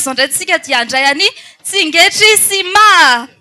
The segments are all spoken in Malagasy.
Izao indray isika dia handray an'i Tsingetry sy Maha.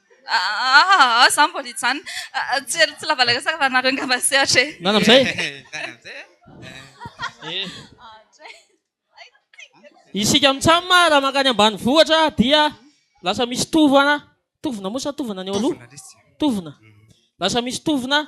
Aahh za mbola hijanona tsy ela tsy lava latsaka fa nareo ngamba sehatra e. Nana amzay e. Isika mitsam raha mankany ambanivohitra dia lasa misy tovana, tovona moa sa tovana ny eo aloha? Tovona, lasa misy tovona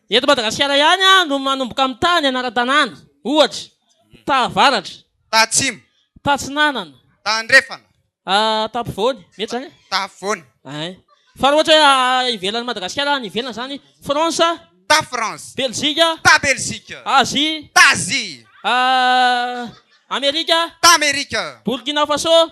Eto Madagasikara ihany no manomboka mitaha ny anaran-tanàna, ohatra, taha avaratra. Taha atsimo. Taha atsinanana. Taha andrefana. Taha ampovoany. Mety izany e? Taha afovoany. Ay. Fa raha ohatra hoe ivelan'i Madagasikara, any ivelany izany, France. Taha France. Belzika. Taha Belzika. Azia. Taha Azia. Amerika. Taha Amerika. Burkina Faso.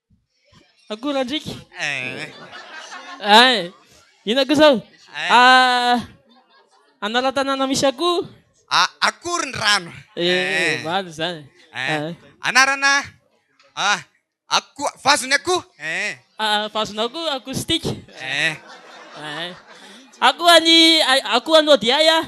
Akorandriaka. Ay. Inona koa izao? Anaran-tanàna misy akoho. Akory ny rano. Eh, omaly izany. Anarana akoho, vazon'ny akoho. Vazon'akoho, acoustique. Akoho an'i, akoho an'i Odiay aho.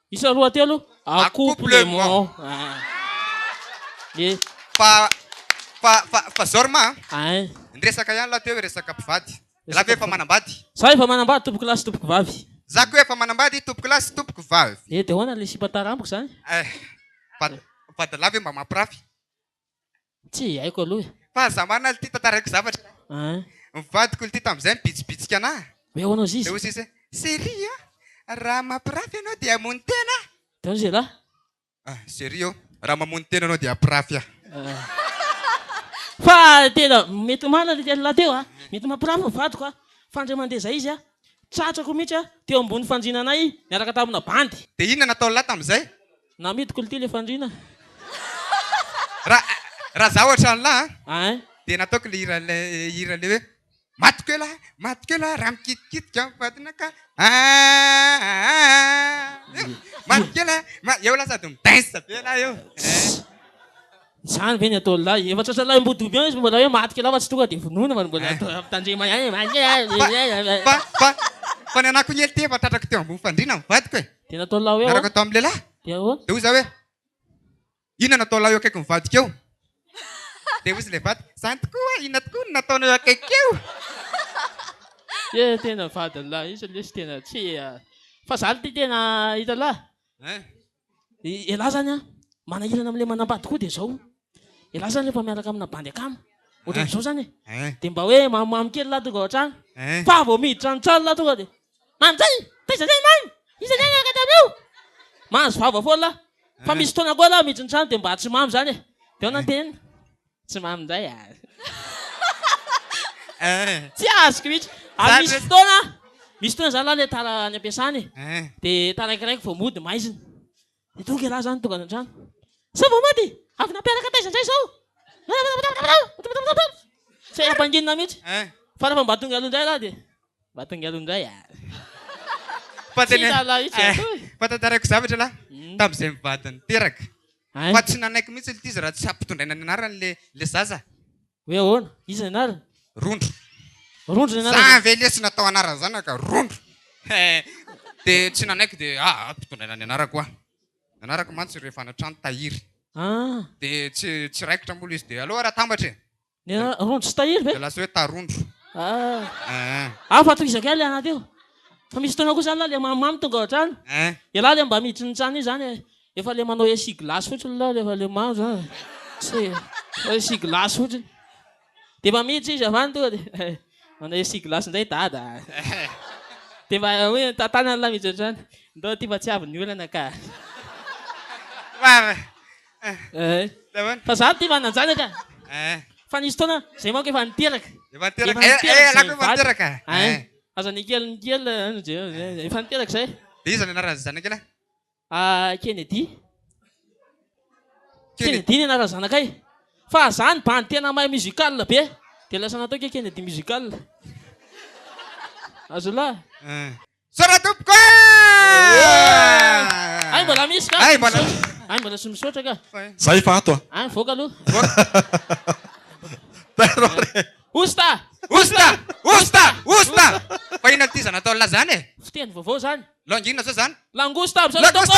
Isa roa telo, accouplement. Ye. Fa fa fa fa zao ry ma a. Ay. Ny resaka ihany lahy teo hoe resaka mpivady. Za ve efa manambady? Za efa manambady tompoko lahy sy tompoko vavy. Za koa efa manambady tompoko lahy sy tompoko vavy. Eh de ahoana le sipa tara amiko zany? Eh. Vad vadalahy ve mba mampirafy? Tsy haiko aloha e. Fahazamana lty tantaraiko zavatra e. An. Ny vadiko lty tamin'izay mibitsibitsika anah. Hoe ahoana hozy izy? Dia hozy izy hoe, Chérie a! Raha mampirafy ianao dia hamono tena aho. Dia hozy ialahy. Ah, chérie ô! Raha mamono tena ianao dia hampirafy aho. Fa tena mety omaly ilay lehilahy teo a! Mety mampirafy ny vadiko a! Fa indray mandeha izay izy a! Tratrako mihitsy a! Teo ambony fandriana anay niaraka tamina bandy. Dia inona nataon'lah tamin'izay? Na midiko lty le fandriana. Ra raha zaho ohatran'lah a Hein. dia nataoko le hira le hira le hoe Matiko elah matiko elah raha mikitikitika ny vadinakah aaahh Matiko elah ma eo lah sady mi-dance be lah eo eh. Izany ve ny ataon'ny lahy? Efa tratralahy mbodoby ihany izy mbola hoe maty kilaofa tsy tonga dia vonoina fa mbola mitandrema ihany. Fa fa fa ny anako niely ty efa tratrako teo ambony fandriana ny vadiko e. Dia nataon'ny lahy hoe ahoana? Niaraka tao amin'ny lehilahy. Dia ahoana? Dia hoy izaho hoe inona no nataon'ny lahy eo akaikin'ny vadiko eo? Dia hoy izy ilay vadiko, izany tokoa, inona tokoa no nataonao eo akaiky eo? Dia tena vadin'ny lahy izy lesy tena tsy fa izany ty tena hitan'ny lahy. Elah zany an, manahirana amin'ilay manambady koa dia izao, elah zany rehefa miaraka amina bandy akama ohatran'izao zany e, dia mba hoe mamomamo kely lah tonga ao an-trano, fa vao miditra any an-trano lah tonga dia, Mamy zay! Taiza zay Mamy? Iza zay niaraka taminao? Mahazo vava foana lah, fa misy fotoana koa lah miditra ny trano dia mba tsy mamy zany e, dia ahoana ny tenenina? Tsy mamy indray a! Tsy azoko mihitsy. Ary misy fotoana, misy fotoana zany lah le tara any am-piasana e, dia taraikiraiky vao mody maizina. Dia tonga ialahy zany tonga any an-trano, sao vao mody? Avy nampiaraka taiza indray izao? Tsy hay ampanginina mihitsy. Fa rehefa mba tonga aloha indray ialahy dia, mba tonga aloha indray a! Tsy hita ialahy mihitsy. Fa tantaraiko zavatra ialahy, tamin'izay mivady niteraka, Fa tsy nanaiky mihitsy ilty izy raha tsy hampitondraina ny anarany le le zaza. Hoe ahoana? Iza ny anarany? Rondro. Rondro ny anarany. Za ve lesy natao anaran zanaka? Rondro. De tsy nanaiky de a ampitondraina ny anarako a. Nanarako mantsy rehefa any an-trano tahiry. Ah. De tsy tsy raikitra moa le izy de aleo ary atambatra e. Ny rondro sy tahiry ve? Lasa hoe tarondro. Ah, fa tohizako ihany le anaty eo. Fa misy fotoana koa zany lah le mamimamy tonga ohatrany. Ialahy le mba miditry ny trano iny zany e. Efa le manao essuie glace fotsiny lah rehefa le mamy zany. Tsy manao essuie glace fotsiny. De efa miditra izy avy any tonga de manao essuie glace indray dada. De mba hoe tantanany lah miditra ohatrany. Ndao aty fa tsy avy ny olana ka. Nahoana? Fa za tia manan-janaka. Fa nisy fotoana, zay manko efa niteraka. Efa niteraka. Efa niteraka. Eh, ialahy koa efa niteraka. Ay. Aza Nickel Nickel, ano je, efa niteraka zay. Dia iza ny anaran'izay zanak'ila? Ah, Kennedy. Kennedy ny anaran'ny zanakay. Fa za ny bandy tena mahay musical be, dia lasa nataoko hoe Kennedy Musical. Azolahy. Misaotra tompoko ah! Ay mbola misy ka. Ay mbola. Ay mbola tsy misaotra ka. Za efa ato ah. Ah mivoaka aloha. Osta! Osta! Osta! Osta! Fa inona ity zany atao laza zany e? Fiteny vaovao zany. Langue inona zao zany? Langosta! Misaotra tompoko!